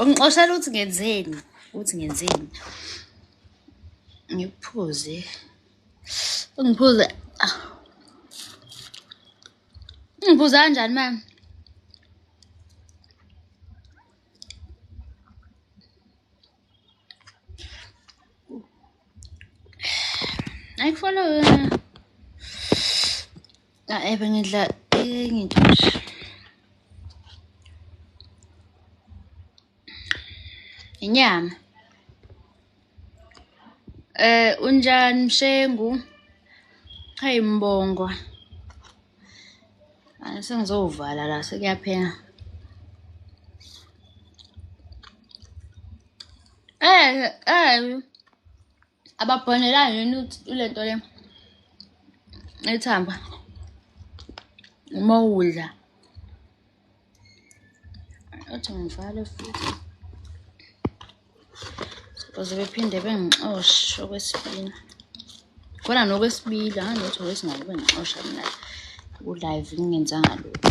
ungixoshela ukuthi ngenzeni ukuthi ngenzeni ngiphuze ungiphuze ah. ungiphuze kanjani mama Ayikufollow yona. Ah, ebe ngidla enye into nje. Inyama. Eh unjani Mshengu? Hayi mbongwa. Sengizowuvala la sekuyaphela. Eh eh ababhonelani yini lento le ethamba uma udla Athi ngivale futhi. Baze bephinde bengixoshe okwesibili. Khona nokwesibili, hhayi lutho kwesingane bengixosha mina ku-live ngingenzanga lutho.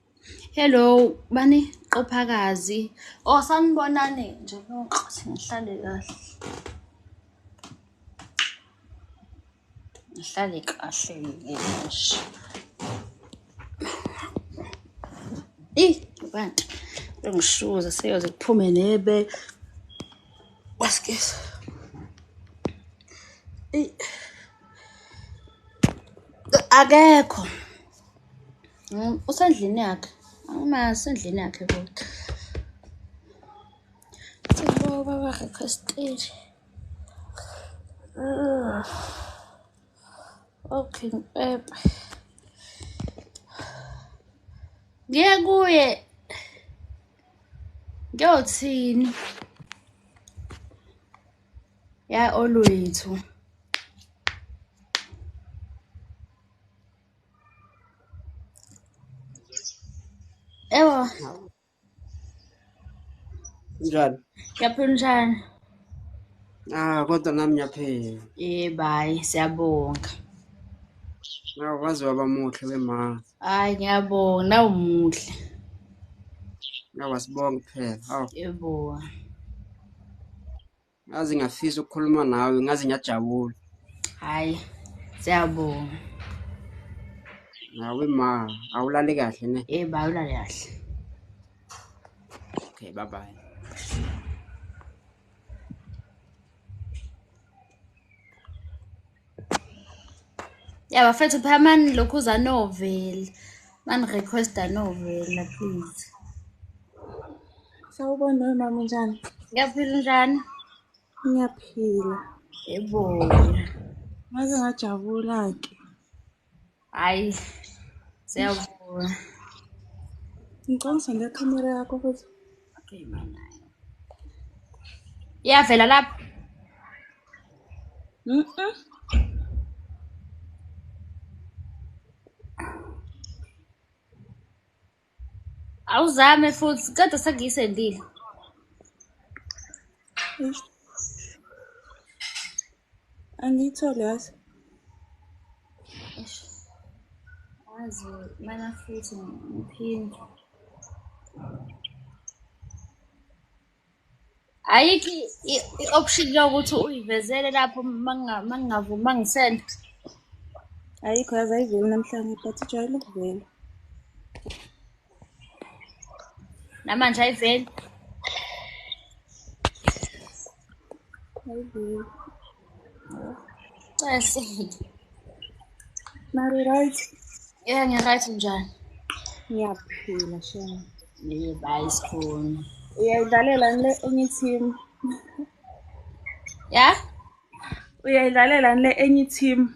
Hello, bani qophakazi. Oh sanibonane nje ngithi ngihlale kahle. Ngihlale kahle ngisho. Ih, bantu ngishuza seyoze kuphume nebe. Wasikisa. Ih. Akekho. Mm, usendlini yakhe angimazi usendlini yakhe kodwa sibaba baba requested ah. okay ngibhebhe ngiye kuye ngiyothini ya olwethu Ewa. Njani? Ngiyaphila unjani? Ah kodwa nami ngiyaphila. Eh bayi siyabonga. Nawe waze waba muhle wema. Hayi ngiyabonga nawu muhle. Nawe wasibonga kuphela. Awu. Yebo. ngaze ngafisa ukukhuluma nawe ngaze ngiyajabula hayi siyabonga nawe ma awulale kahle ne yebo eh, awulale kahle okay bye bye ya bafethu phamani lokhu uza novel mani requesta novel la please sawubona we mama njani ngiyaphila njani ngiyaphila yeboya ngaze ngajabula-ke hayi siyavuma ngicwangisa ngekhamera yakho futhi iyavela lapho Awuzame futhi ceda sengiyisendile. Angiyitholi yazi. Azi mana futhi ngiphinde. ayikho i- i- i-option lokuthi uyivezele lapho manga- mangingavumi mangisenda ayikho yaze ayiveli namhlanje but ijwayele ukuvela namanje ayiveli ayiveli Cese. Mari right? Yeah, ngiryt njani? Ngiyaphila shema. Yebo, hayi sikhona. Uyayidlalela le enye team. Ya? Uyayidlalela le enye team.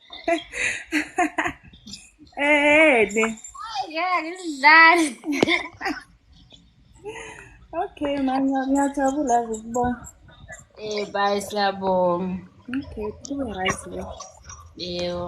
Eh, ne. Yeah, ngidlali. Okay, manje ngiyajabula ukubona. Eh, bye siyabonga. Okay, kube right le. Yebo.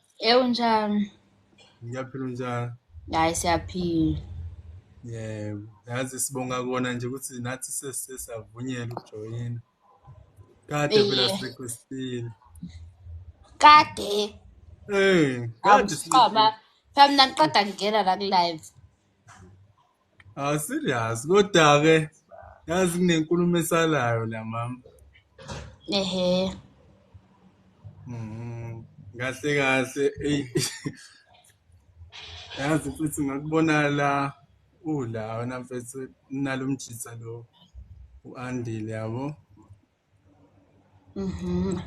Ewu njani? Ngiyaphila njani? Hayi siyaphila. Yebo, yazi sibonga kona nje ukuthi nathi sesisavunyelwa ukujoyina. Kade phela sirequestile. Kade. Eh, kade siqaba. Phela mina ngiqeda ngingena la ku live. Ah serious kodwa ke yazi kunenkulumo esalayo la mama. Ehe. Mhm. Kahle kahle ey. Yazi futhi ngakubona la ula wena mfethu nalomjitha lo uandile yabo. Mhm.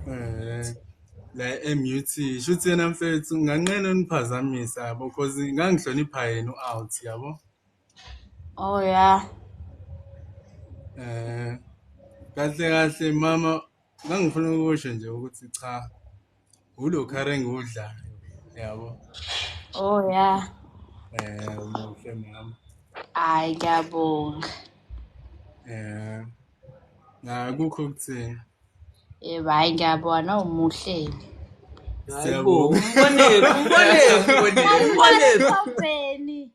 Eh la MUT shuthi yena mfethu nganqena uniphazamisa yabo cause ngangihlonipha yena uout yabo. Oh yeah. Eh kahle kahle mama ngangifuna ukusho nje ukuthi cha Ulo car engudla yabo. Oh yeah. Eh umuhle mama. Hayi ngiyabonga. Eh. Na kukho kuthini? Yebo hayi ngiyabona umuhleli. Siyabonga. Umbonephi, umbonephi, umbonephi. Umbonephi.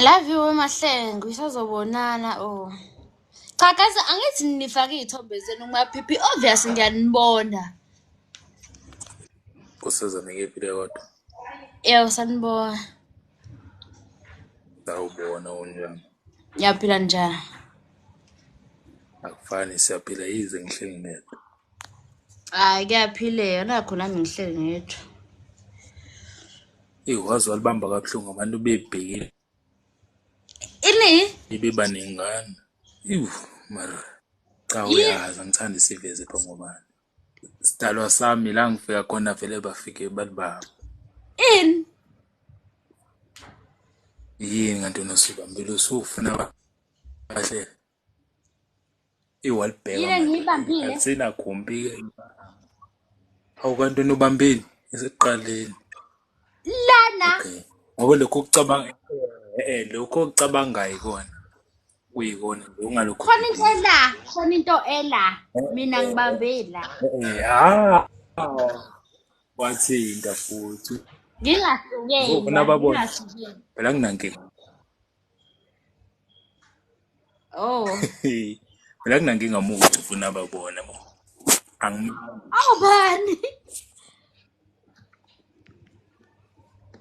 Love you Mahlengu, isazobonana oh. Cha guys, angithi nifake iy'thombe zenu kumaphiphi, obvious ngiyanibona. Usiza nikephile kodwa. Yebo sanibona. Sawubona unjani? Ngiyaphila njani? Akufani siyaphila yize ngihleli ngedwa. Hayi kuyaphileka nakho nami ngihleli ngedwa. Eyi waze walibamba kabuhlungu abantu bebhekile Ini? beba nengane. Ewu mara cha Yi- uyazi angithandi isiveze pha ngobani. Sidalwa sami la ngifika khona vele bafike balibamba. Ini? Yini kanti unosuka mbili usufuna ba- bahle. iwalibheka Yile ngiyibambile. alisenagumbi hawu kanti wena ubambile esekuqaleni lana okay ngoba lokho kucabanga eh lokho kucabangayo ikona kuyikona nje ungalokho khona into ela khona into ela mina ngibambela eh ah wathinta futhi ngingahlukeni Ngibona babona. ngingahlukeni phela kunankinga Oh. Mina kunankinga muntu ufuna babona bo. Angi Awubani?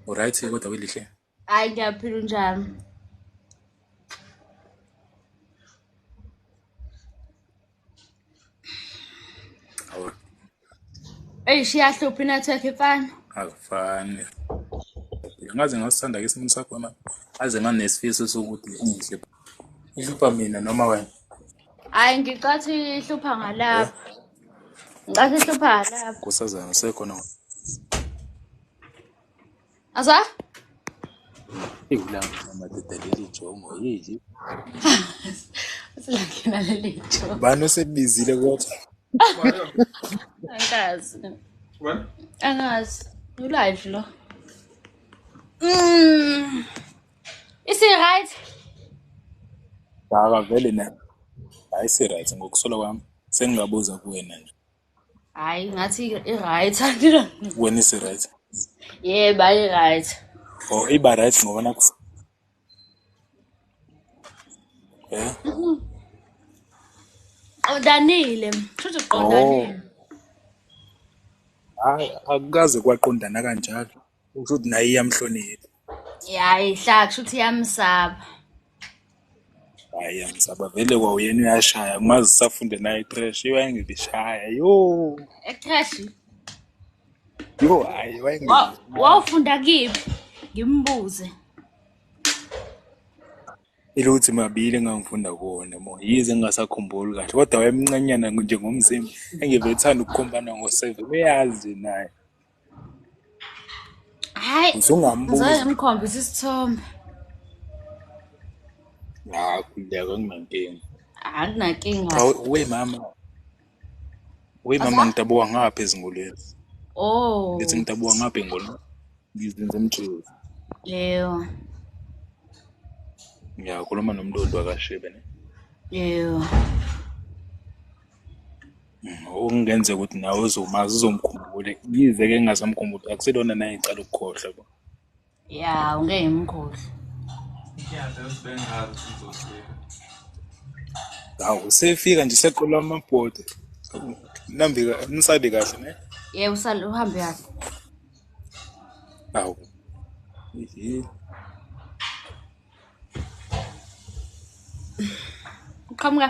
Alright kodwa welihle. Hayi ngiyaphila unjani? eyi shiyahlupha inetwork ifana akufani ngaze ngasithanda ke isimo sakho manje aze nganesifiso sokuthi ungihle ihlupha mina noma wena hayi ngicathi ihlupha ngalapha ngicathi ihlupha ngalapha kusazana sekhona Azwa? Iwulapho mama doda leli jongo yili. Usilangena leli jongo. Bani osebizile kodwa? Angazi. What? Angazi. You live lo. Mm. Is it right? Baba vele na. Hayi si right ngokusola kwami. Sengingabuza kuwena nje. hayi ngathi i-right wena isi-right yebo ayi-right o oh, iba right ngoba naku eh qondanile shuthi qondanile oh. hayi akukaze kwaqondana kanjalo usho ukuthi naye iyamhlonipha yayi hla kusho ukuthi yamsaba hayi angisaba vele kwawuyena uyashaya maze usafunde naye crash iwayengibishaya yo echashi yo hayi Wa- wayengibishaya wawufunda kiphi ngimbuze iluthi mabili engangifunda kuwona mo yize ngingasakhumbuli kahle kodwa wayemncanyana nje ngomzimba engivethanda ukukhombana ngo-seven uyazi naye hayi usungambuza ngimkhombisa isithombe hayi khuleka kunankinga anginankinga we mama we mama ngidabuka ngapha ezingolweni oh ngithi ngidabuka ngapha engolweni ngizinze emjezi yebo ngiyakhuluma nomlondi wakashebe ne yebo okungenzeka ukuthi nawe uzomazi uzomkhumbule yize ke ngingasamkhumbuli akusilona naye ngicala ukukhohlwa bo ya ungeke ngimkhohlwe hawu usefika nje seqola amabhodi nambi nisabe kahle ne ye usale uhambe kahle hawu uqhamuka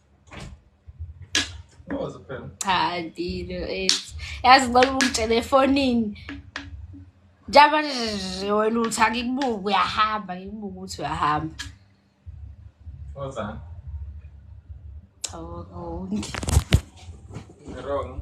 cha ndilo ethi yazi ngicela ukungitshela efonini njaba nje wena uthi angikubuke uyahamba ngikubuke ukuthi uyahamba cha wrong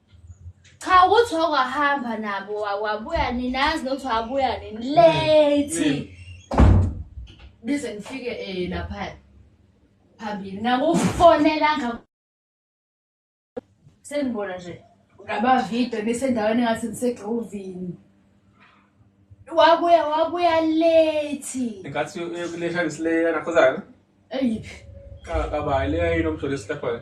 Cha ukuthi wakwahamba nabo wabuya ninazi nokuthi wabuya nini late. Bize ngifike eh lapha phambili ngakufonela nga Sengibona nje ngaba video bese endaweni ngathi ngisegrovini. Wabuya wabuya late. Ngathi uyokulesha ngisile nakhozana. Eyiphi? Ka ka ba ile ino mjolisi lapha.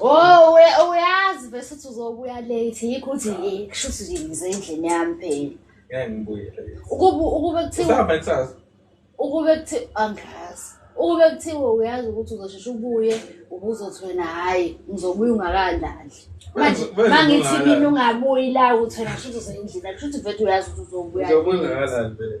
Oh, uyazi bese uthi uzobuya late yikho uthi eh, kusho ukuthi nje ngize endlini yami phela. Ngeke ngibuye. Ukube ukube kuthiwa Sihamba kusasa. Ukube kuthiwa angazi. Ukube kuthiwa uyazi ukuthi uzosheshe ubuye ubuzothi wena hayi ngizobuya ungakalali. Manje mangithi mina ungabuyi la uthi wena kusho ukuthi uzoyindlini kusho ukuthi vethu uyazi ukuthi uzobuya. Uzobuya ungakalali vele.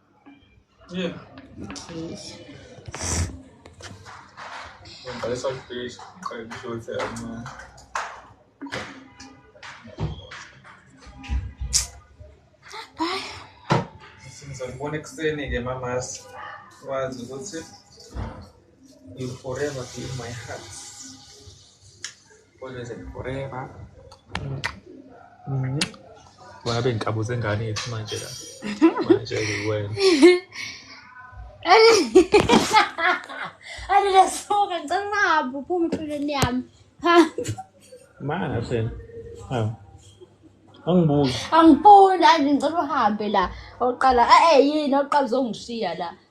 Yeah. Please. Ngibhale saltfish, ngiqale kuhlothe kancane. Bye. Sizobona ekuseni-ke mamasi wazi ukuthi you forever be in my heart. Forever. Mm. Wena bengikabuza ingane yethu manje la. Manje wena. Ani lesuka ngicela uhambe uphume empilweni yami. Hamba. Mana sena. Hawu. Angibuki. Angiboni, angicela uhambe la. Oqala, eh yini oqala uzongishiya la.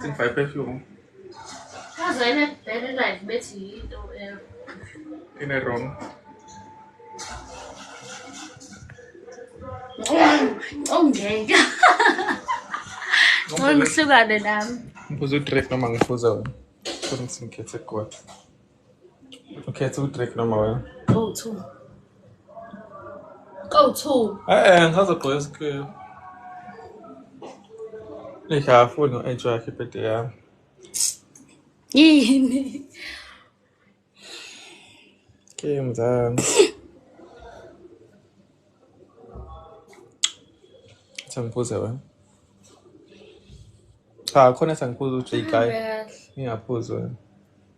Think five perfume. Kaze ene bheke live bethi yinto eh ine wrong. Ongeke. Ngomhlukane nami. Ngibuza udrip noma ngibuza wena. Kodwa ngisinkhethe kodwa. ukhetha udrink noma wena go to go to eh ngisazogqoka isikhiyo ngiyafuni u-enjoy yakhe ibhede yami yini ke mzami sangiphuze wena cha khona sangiphuza uj guy ngiyaphuza wena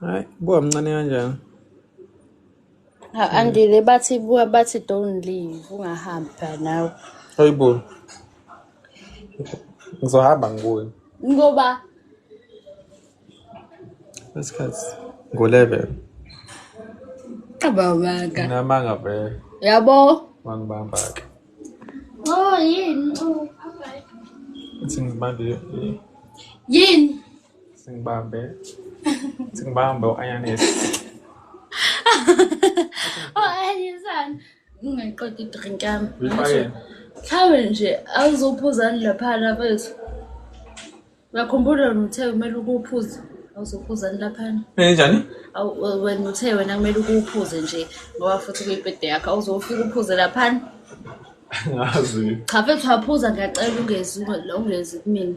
Hayi, buka mncane kanjani? Ha, andile bathi buka bathi don't leave ungahambi phela nawe Hayibo. Ngizohamba ngibuye. ngoba Isikhathi. Ngo-11. abawaka Nginamanga vele. yabo Wangibamba-ke. oh yini oh, Uthi ngibambe i- yini Singbambe. Singbambe u-Ayanis. O-Ayanisani. Ngingayiqeda idrink yami. Uyifakeni? Mhlawumbe nje awuzophuzani laphana bethu. Uyakhumbula wena uthe kumele ukuphuze. Awuzophuzani laphana. Enjani? Awu- we- Wena uthe wena kumele ukuphuze nje ngoba futhi kuyibhede yakho. Awuzofika uphuze laphana. Ngazi. Cha fethu waphuza ngiyacela ungezi ungezi kumina.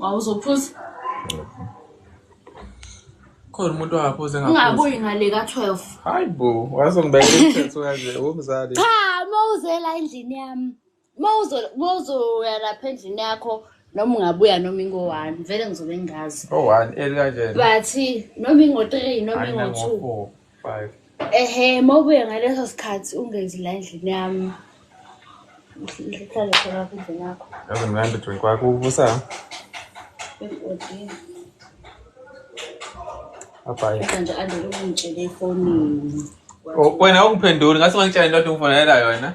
wawuzophuza khona umuntu ongaphuzi ungabuyi ngale ka-12 hayi bo wazongibeka umthetho kanje womzali cha uma uzela endlini yami uma uzoya lapha endlini yakho noma ungabuya noma ingo-one vele ngizobe ngingazi o-one eli kanjena but noma ingo-three noma ingo-two ehe uma ubuye ngaleso sikhathi ungezi la endlini yami uhlale khona kudlini yakho yazi mnandi drink wakho uvusa abhayianje andele ungitshele efonini oh, wena ungiphenduli ngase ngangitshela into othi ungifonela yona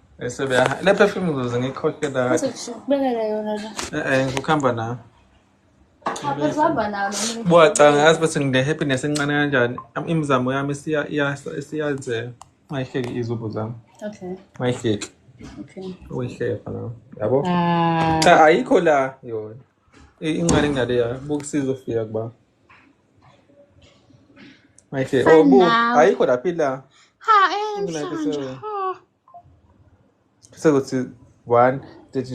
Esebeya le perfume ngizoze ngikhokhela. Bese kubekela yona la. Eh eh ngikuhamba nayo. Abesihamba nayo noma. Buya cha ngazi bese ngine happiness encane kanjani. Am- Imizamo yami siya siyazela. Mayihleki izubo zami. Okay. Mayihleki. Okay. Uyihleka nawe. Yabo? Ah. Cha ayikho la yona. incane ingane ya buka isizo fika kuba Ayike, For obu, now. ayikho laphi la. Ha, eh, Kunake mhlawumbe. sewe. Ha. Sekuthi one.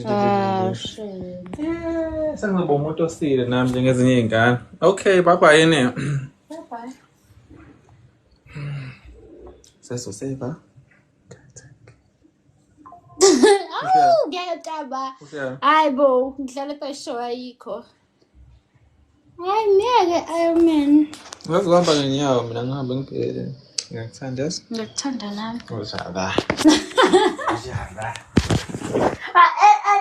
Ah, shame. Eh, sengizoba umuntu osile nami njengezinye iy'ngane. Okay, bye bye yini. Bye-bye. Sesoseva. awu ngiyacaba hayi bo ngidlala kweshow ayikho hayi ngeke ironman ngazi kuhamba ngenyawo mina ngihambe ngibhele ngiyakuthanda yazi ngiyakuthanda nami uzala uzala ah, eh, eh,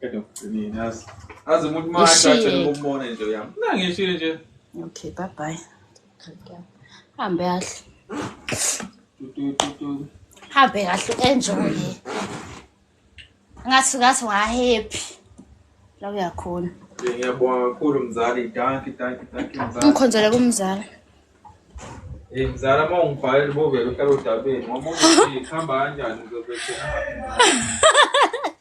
Qeda ukugcinina yazi. Azi umuntu uma Ishiyeke. ajajele ukubona into yami. Mina ngishile nje. Okay, bye bye. Hambe kahle. Tu, tu, tu, tu. Hambe kahle enjoy. Ngathi ngathi wa happy. La uyakhona. Nje Ngiyabonga kakhulu mzali. Danki, danki, danki mzali. Ungikhonzele kumzala. Eh mzali uma ungibhalela ubovela uhlala odabeni. Ngomunye nje ihamba kanjani ngizobethela.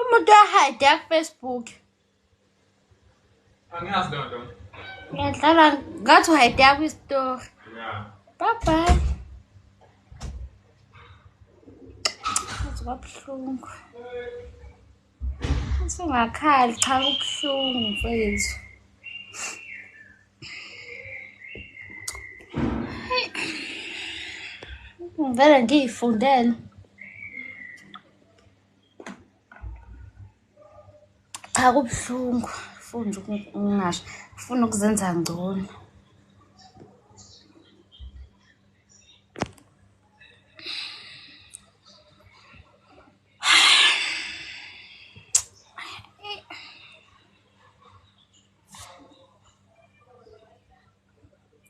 umuntu ahayide kufacebook angiyazi leyo nto ngiyadlala ngathi uhayide kwistory bye bye kwabuhlungu usungakhali cha kubuhlungu mfethu ngivele ngiyifundele cha kubuhlungu funda ukungasho funa ukuzenza ngcono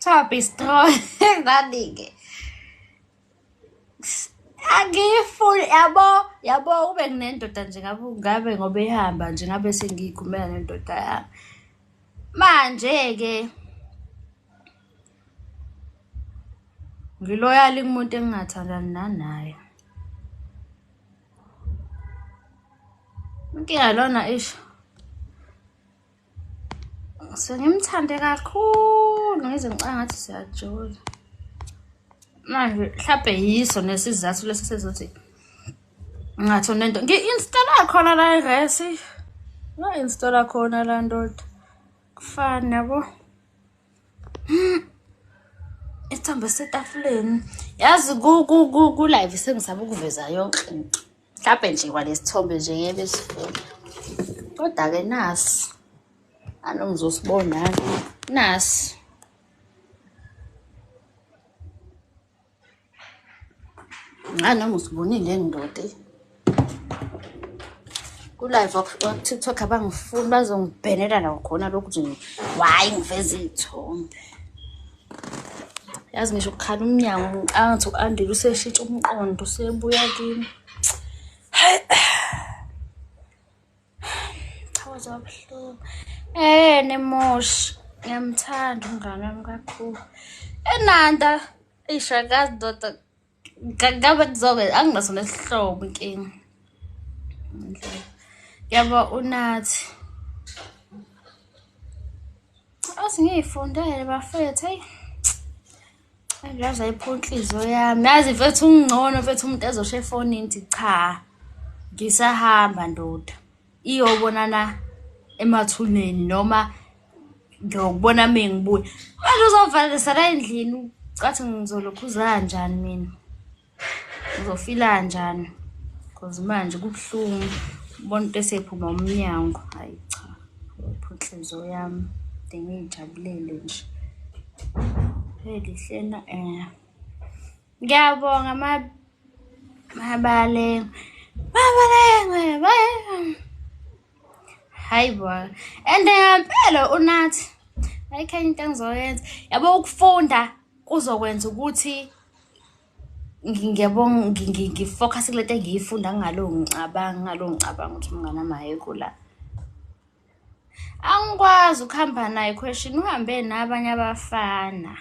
Top is strong. Nani-ke. Angiyifuni yabo yabo ube nginendoda nje ngabe ngabe ngoba ihamba nje ngabe sengiyikhumela nendoda yami. Manje-ke ngiloyali kumuntu engingathandani nanaye. Inkinga lona isho. so ngimthande kakhulu ngize ngicanga ngathi siyajula manje mhlawumbe yiso nesizathu lesi sezothi ngathi unento ngi-installa khona la iresi nga-installa khona la ndoda kufani yabo hmm. isithombe setafuleni yazi ku-live sengisaba ukuveza yonke into mhlawumbe nje kwalesithombe nje ngeke besifuna kodwa-ke nasi anongizosibonani nasi ngani noma usibonile ndoda kulive wakutiktok abangifuni bazongibhenela nakhona lokhu nje wayi ngiveza iy'thombe yazi ngisho ukukhala umnyango ngiqanga ukuthi u-andile useshintsha umqondo usebuya kimi hayi chawa zabuhlungu eh nemosh ngiyamthanda umngane wami kakhulu enanda ishakazi doda ngabe kuzoke anginaso nesihlobo inkinga yabo unathi azi ngiyifundele bafethu eyi angiyazi ayipho inhliziyo yami yazi mfethu ungcono mfethu umuntu ezosho efonini ngithi cha ngisahamba ndoda iyobonana emathuneni noma ngiyokubona uma ngibuya manje uzovalisa la endlini cathi ngizolokhuza kanjani mina ngizofila kanjani because manje kubuhlungu ubona into esephuma umnyango hayi cha uphi inhliziyo yami de ngiyijabulele nje elihlena um eh. Ngiyabonga ma mabalengwe. Mabalengwe. Hayi bo. And ngempela unathi. Ayikho into engizoyenza. Yabo ukufunda kuzokwenza ukuthi ngiyabo ngifocus kule nto engiyifunda ngalo ngicabanga ngalo ngicabanga ukuthi umngane mahekho la angikwazi ukuhamba naye question uhambe nabanye abafana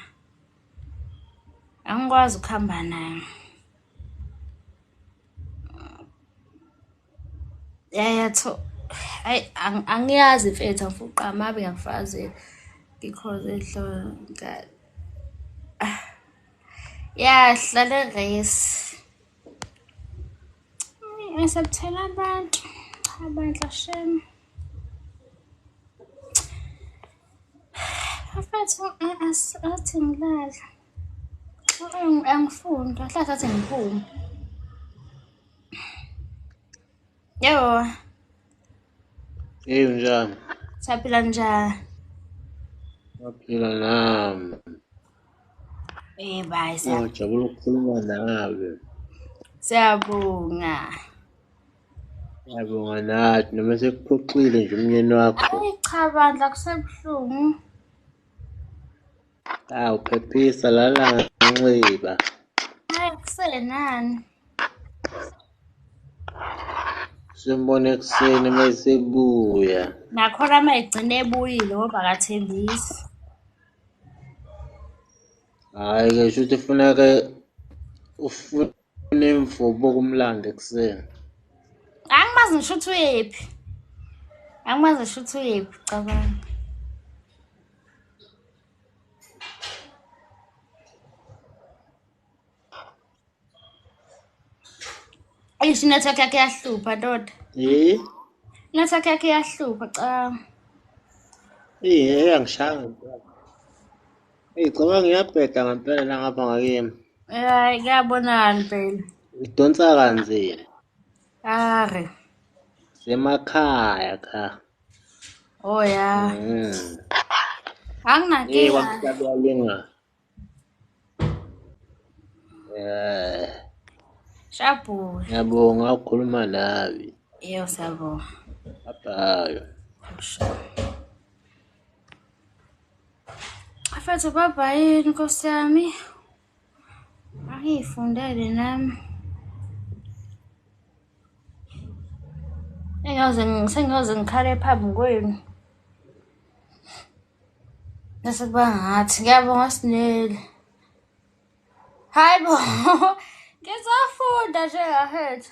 angikwazi ukuhamba nayo yayatho hayi angiyazi mfethu angifuna uqamabe ngiyakufazi because ehlonka ah. ya hlale race ngisabuthela abantu cha bandla shem Bafethu athi ngilale. Angifuni, kahle athi ngiphume. Yebo. Hey unjani? Saphila njani? Saphila nami. Eh bye. Ngijabula ukukhuluma nawe. Siyabonga. Yabonga nathi noma sekuphoxile nje umnyeni wakho. Ayi cha bandla kusebuhlungu. Awu phephisa lala nganxiba. Hayi kusenani. Simbone ekuseni uma esebuya. Nakhona uma egcine ebuyile ngoba akathembisi. Hhayi-ke shuthi funeka ufuna Unemfo boku mlande kuseni. Angimazi ngisho ukuthi uyephi. Angimazi ngisho ukuthi uyephi cabanga. Eish network yakhe yahlupha ndoda. Eh? Network yakhe yahlupha cha. Eh, angishanga. Ngicabanga ngiyabheda ngempela la ngapha ngakimi. Hayi kuyabonakala impela. Idonsa kanzima. Are. Semakhaya cha. Oh ya. Mm. Anginankinga. Yebo, Eh. Shabhu. Ngiyabonga ukukhuluma nawe. Yebo, siyabonga. Bye. Sure. Afethu baba yini nkosi yami. Angiyifundele nami. Engaze sengaze ngikhale phambi kwenu. Bese kuba ngathi ngiyabonga sinele. Hayibo. Ngizofunda nje ngafethu.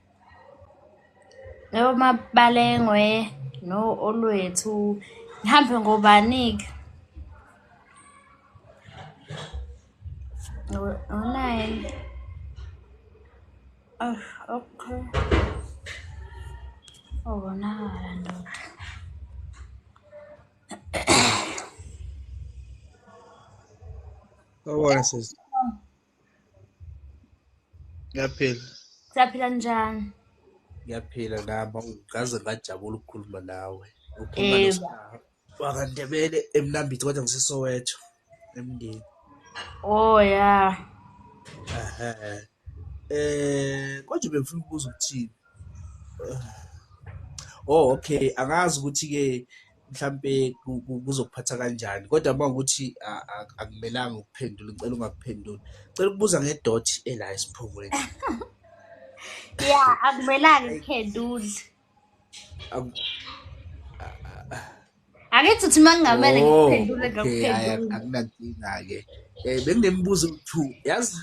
Omabalengwe no Olwethu ngihambe ngobani-ke? Ngo-nine. Oh, okay. Ubonakala ndoda. Sawubona sisi. ngiyaphila siyaphila njani ngiyaphila nami ngaze ngajabula ukukhuluma nawe ukhuluma eh. wakandebele emnambithi kodwa ngisisowetho emndeni oh ya um eh, kodwa bengifuna ukubuza ukuthini oh okay angazi ukuthi-ke mhlampe kuzokuphatha kanjani kodwa uma ukuthi akumelanga ukuphendula ngicela ungakuphenduli cela ukubuza ngedot ela esiphongweni ya akumelanga ukuphendula angithi uthi uma ngingamele oh, ngikuphendule ngakuphendula akunankinga-ke um eh, benginemibuzo two yazi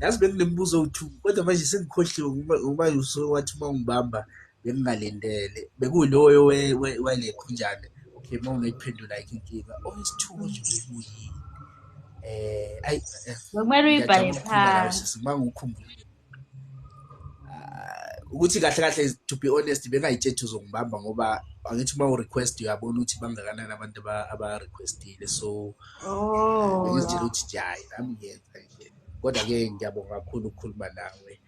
yazi benginemibuzo two kodwa manje sengikhohliwe ngoba usuke wathi uma ungibamba bengingalindele bekuloyo walekhunjane okay uma ungekuphendula ayikho inkinga owesithuko nje bekuyini eh ayi eh, kumele uyibhale phansi uma ngikhumbula ah, ukuthi kahle kahle to be honest bengayitshethi uzongibamba ngoba angithi uma urequest uyabona ukuthi bangakanani abantu abarequestile so oh. ngizitshela ukuthi nje hayi nami ngiyenza nje kodwa-ke ngiyabonga kakhulu ukukhuluma nawe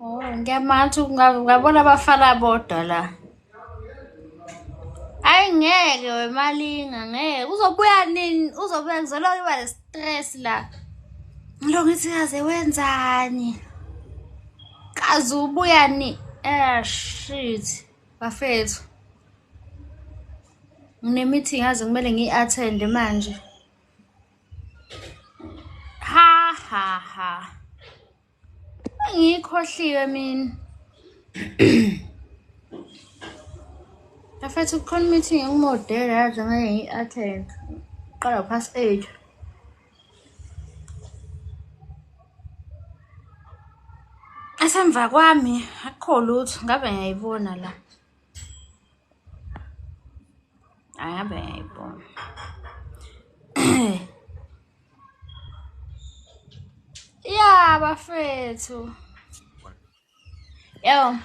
Oh, ngiyamatha ungabona abafana bodwa la. Hayi ngeke wemalinga ngeke uzobuya nini uzobuya ngizoloku iba ne-stress la. Ngilo ngithi kaze wenzani? Kaze ubuya ni? Eh shit bafethu. Ngine-meeting yazi kumele ngiyi-attende manje. Ha ha ha. Ngiyikhohliwe mina. Afethu kukhona meeting engimodela yazi ngeke ngi-attend. Qala past 8. Asemva kwami akukho lutho ngabe ngiyayibona la. Aya bem, bom. yeah, bafethu. Yo.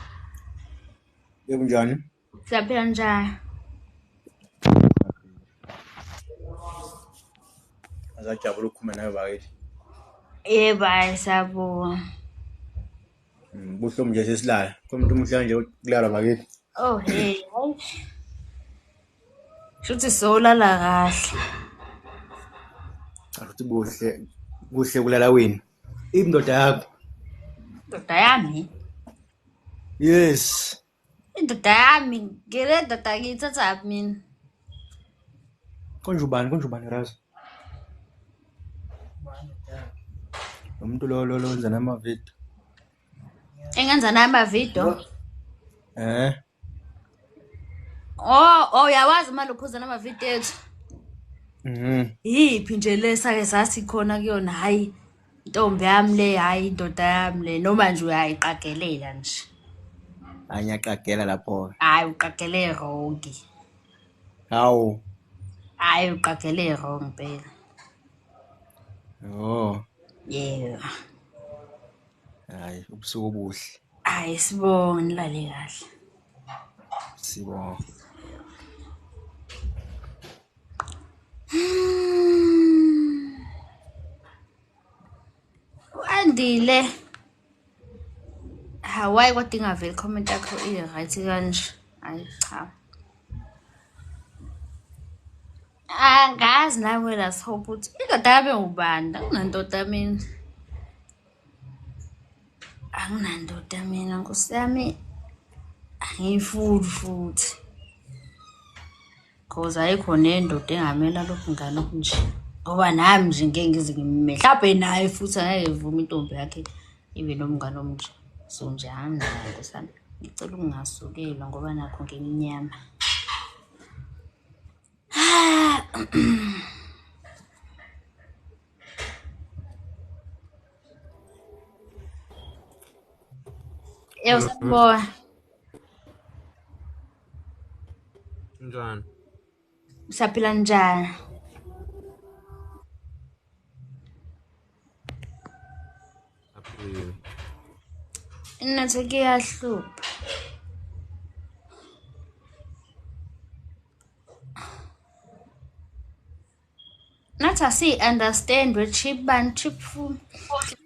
Yebo njani? Siyaphila njani? Azajabula ukukhuluma nawe bakithi. Yebo, hayi sabona. Mm, buhlungu nje sesilala komuntu umuhle nje kulala bakithi oh hey hayi shuthi sowulala kahle akuthi buhle kuhle kulala wena indoda yakho ndoda yami yes Indoda yami ngile ndoda ngiyithatha mina. Konje ubani konje ubani Razo? Umuntu lo lo lo wenza nama video. Engenza nama video. Eh. Oh, oh yawazi manje ukhuza nama video ethu. Mhm. Yiphi nje lesa ke sasikhona kuyona hayi. Ntombi yami le hayi indoda yami le noma nje uyayiqagelela nje. Hayi ngiyaqagela lapho. Hayi uqagele wrong. Hawu. Hayi uqagele wrong phela. Oh. Yeah. Hayi ubusuku obuhle. Hayi sibonge nilale kahle. Sibonga. Andile. Hawaii kodwa ingaveli comment yakho i right kanje. Hayi cha. Angazi nawe la hope ukuthi indoda yabe ubanda kunandoda mina. anginandoda mina nkosi yami angiyifuni futhi cause ayikho nendoda engamela lokhu ngane okunje ngoba nami nje ngeke ngize ngimime mhlawumbe naye futhi angeke vume intombi yakhe ibe nomngane omnje so nje anginayo nkosi yami ngicela ukungasukelwa ngoba nakho ngimnyama Eu sou boa. Njani? Usaphila njani? Aphilile. Inathi kuyahlupha. nathi asiyi-understand wetrip bani trip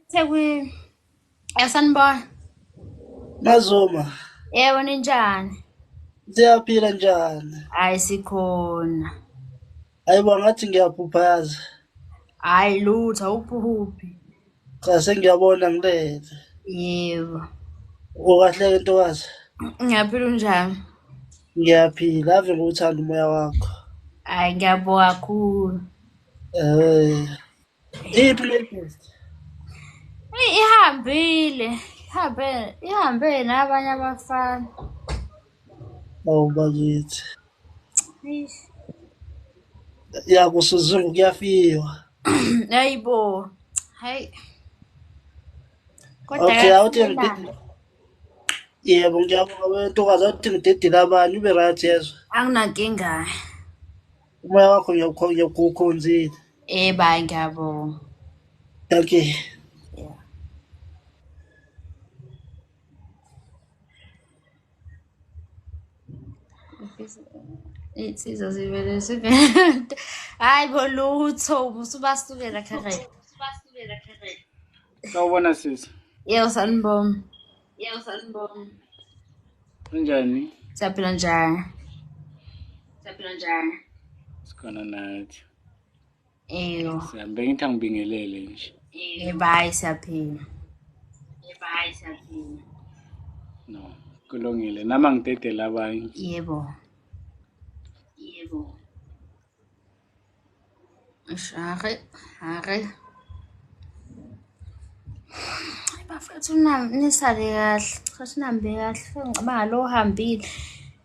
sekwi yasanibona mazoma yebo ninjani siyaphila njani hayi sikhona hayi bo ngathi ngiyaphupha yazi hayi lutho awuphuphi Cha sengiyabona ngilele. Yebo. Ukahle ke ntokazi? Ngiyaphila unjani? Ngiyaphila ave ngikuthanda umoya wakho. Hayi ngiyabonga kakhulu. Eh. Iphi latest? Eyi, Ihambile. Ihambe ihambe nabanye abafana. Awu bakithi. ya kusuzungu kuyafiwa hayi bo hayi kodwa okay awuthi yebo ngiyabonga wentokazi awuthi ngidedile abani ube right yezwa anginankinga umoya wakho ngiyawukhonzile eh bayi ngiyabonga okay iy'nsizwa zivele zibe hhayi bo lutho ubusubasukela kharai sawubona sisi yebo sanibonga yebo sanibonga unjani siyaphila njani siyaphila njani sikhona nathi eyo sihambe ngithi angibingelele nje ebayi siyaphila ebayi siyaphila no kulungile nama ngidedele abanye yebo yebo share hare bafethu nisale kahle cha sinambe kahle ngicabanga lo uhambile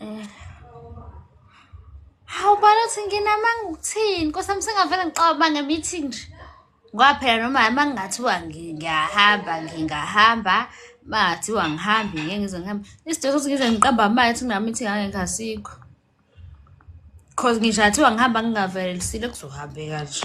Eh. Hawu balo uthi nginamanga ukuthini? Nkosi yami sengavele ngixaba nge-meeting nje. Ngoba phela noma uma ngingathiwa ngiyahamba ngingahamba uma ngathiwa ngihambi ngeke ngize ngihambe. Isidingo sokuthi ngize ngiqamba amali ukuthi ngina-meeting angeke asikho. Cause ngisho ngathiwa ngihamba ngingavelisile kuzohambeka nje.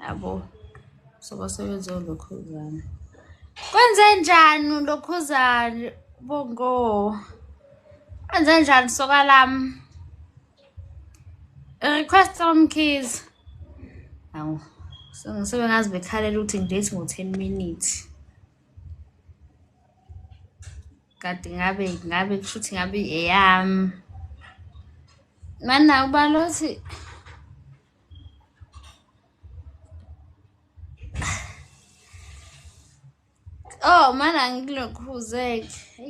yabo so basebenze ulokhuzane kwenze njani ulokhuzane bongo kwenze njani soka lami request from keys awu so ngisobe ngazi bekhalela ukuthi ngidate ngo-ten minutes kade ngabe ngabe kusho ukuthi ngabe eyami mana ubalothi Oh mana ngilokhuzeke.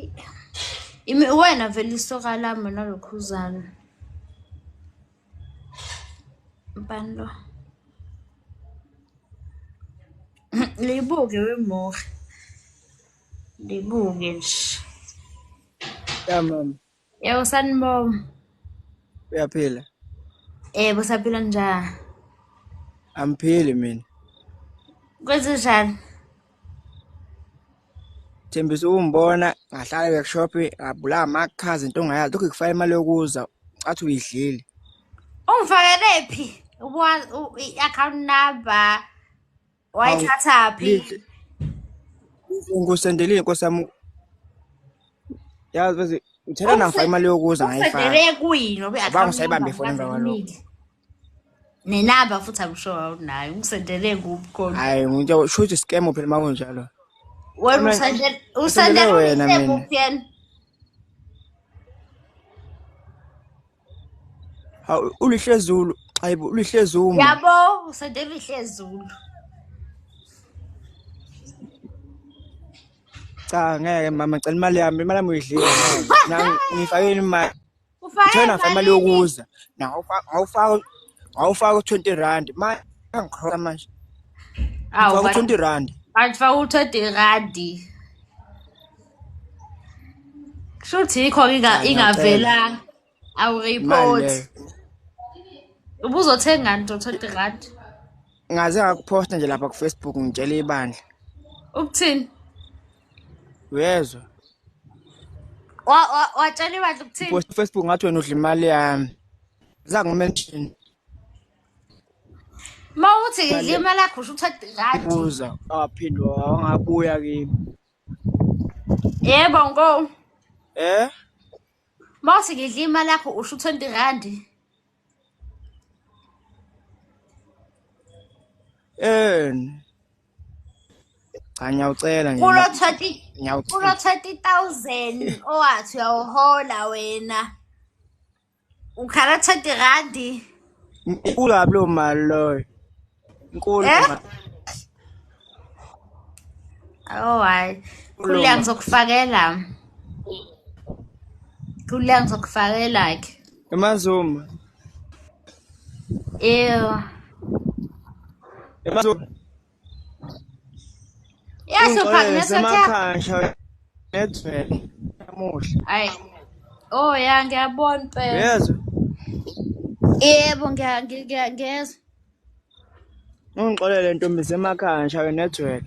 Imi wena vele isoka lami nalokhuzana. Mbani lo? Libuke wemoha. Libuke nje. Yeah, mama. Yebo sanibonga. Uyaphila? Yebo eh, saphila njani? Angiphili mina. Kwenzenjani? Thembisa ungibona ngahlala workshop ngabula amakhazi into ongayazi lokho kufaka imali yokuza athi uyidlile. Ungifakele phi? I-account number wayithathaphi ngusendelile nkosi yami yazi bese ngithela nafa imali yokuza ngayifaka kuyini obe akabanga sayibambe ifoni emva kwalokho nenamba futhi I'm sure awunayo ungisendele kuphi khona hayi ngisho sho ukuthi scam phela uma kunjalo wena usendele usendele wena mina Hawu ulihlezulu. Hayibo ulihlezulu. Yabo usede lihlezulu. Cha ngeke mama cela imali yami imali yami uyidlile ngeke. Ngifake imali. Ufake Thena imali imali yini? yokuza. Nawu awufaka awufaka 20 rand. Manje angikhola manje. Awu Faka 20 rand. bantu faka u-30 randi. shuthi yikho inga- ingavela awureport Manje, ubuzothengani to 20 rand ngaze ngakuphosta nje lapha kufacebook ngitshela ibandla ukuthini uyezwa Wa- wa- watshela ibandla ukuthini post kufacebook ngathi wena udla imali yami zangumention ma uthi ngidla imali yakho usho ukuthi 20 rand buza awaphinde wangabuya kimi Yebo ngo. Eh? Mawuthi ngidla imali yakho usho 20 rand. Eh. Cha ngiyawucela nje. Kulo 30 kulo 30000 owathi uyawuhola wena. ukhala 30 randi inkulu kabi loo mali loyo inkulu eh? oh hayi khuleka ngizokufakela khuleka ngizokufakela ke emazuma eyo emazuma Yahlupha ngesemakhaya ngethwele namuhla. Hayi. Oh ya ngiyabona impela. Yezwa. Yebo ngiyangiyangeza. Ungixolele ntombi semakhaya ngishawe network.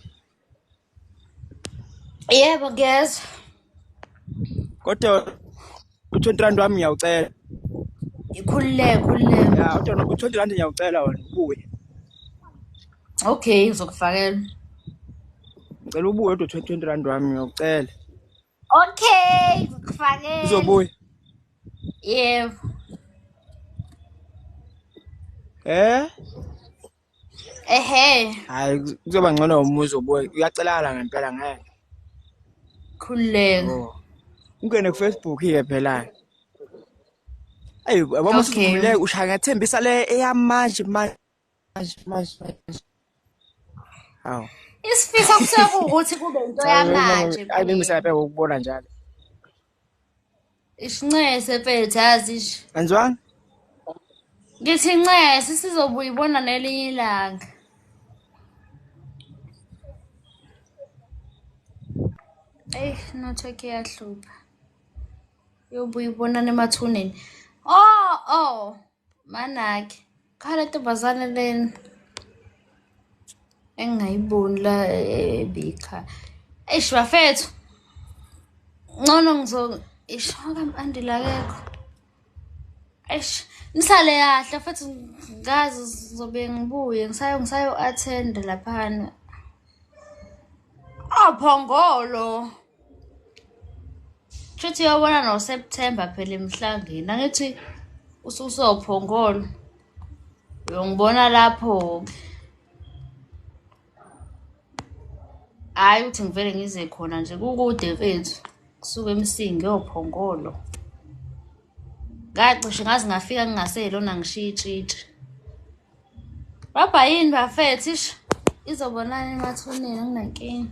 Yebo ngiyezwa. kodwa u-twenty rand wami ngiyawucela ngikhululeke khululeke ya kodwa u-twenty rand ngiyawucela wena ubuye okay ngizokufakela ngicela ubuye kodwa u-twenty rand wami ngiyawucela okay ngizokufakela uzobuya yebo eh ehe hayi kuzoba ngcono umuzi obuye uyacelakala ngempela ngeke khululeka oh. ungene kufacebook ke phela ayi yabona usivumile ushaya ngathembisa le eyamanje manje manje manje hawu isifiso kusekuwukuthi kube into yamanje ayi bengisapheka ukubona njalo Ishinxese mfethu yazi ish. Kanjwani? Ngithi nxese sizobuya ibona nelinye ilanga. Ey network iyahlupha. Yobuya ibona nemathuneni. Oh oh. Manaki. Cha le ntombazane lena engingayiboni la ebikha. Eish bafethu. Ngcono ngizo ishaka mpandila akekho. Eish nisale kahle futhi ngazi ngizobe ngibuye ngisayo ngisayo attend laphana. Ophongolo. Oh, Shuthi yabona no September phela emhlangeni. Angithi ususophongolo. Uyongibona lapho ke. Hayi uthi ngivele ngize khona nje kukude mfethu. Kusuke emsingi ophongolo. Oh, ngacishe ngaze ngafika ngingaselona ngishiya itshitshi Babha yini bafethu ish izobonana emathuneni anginankinga.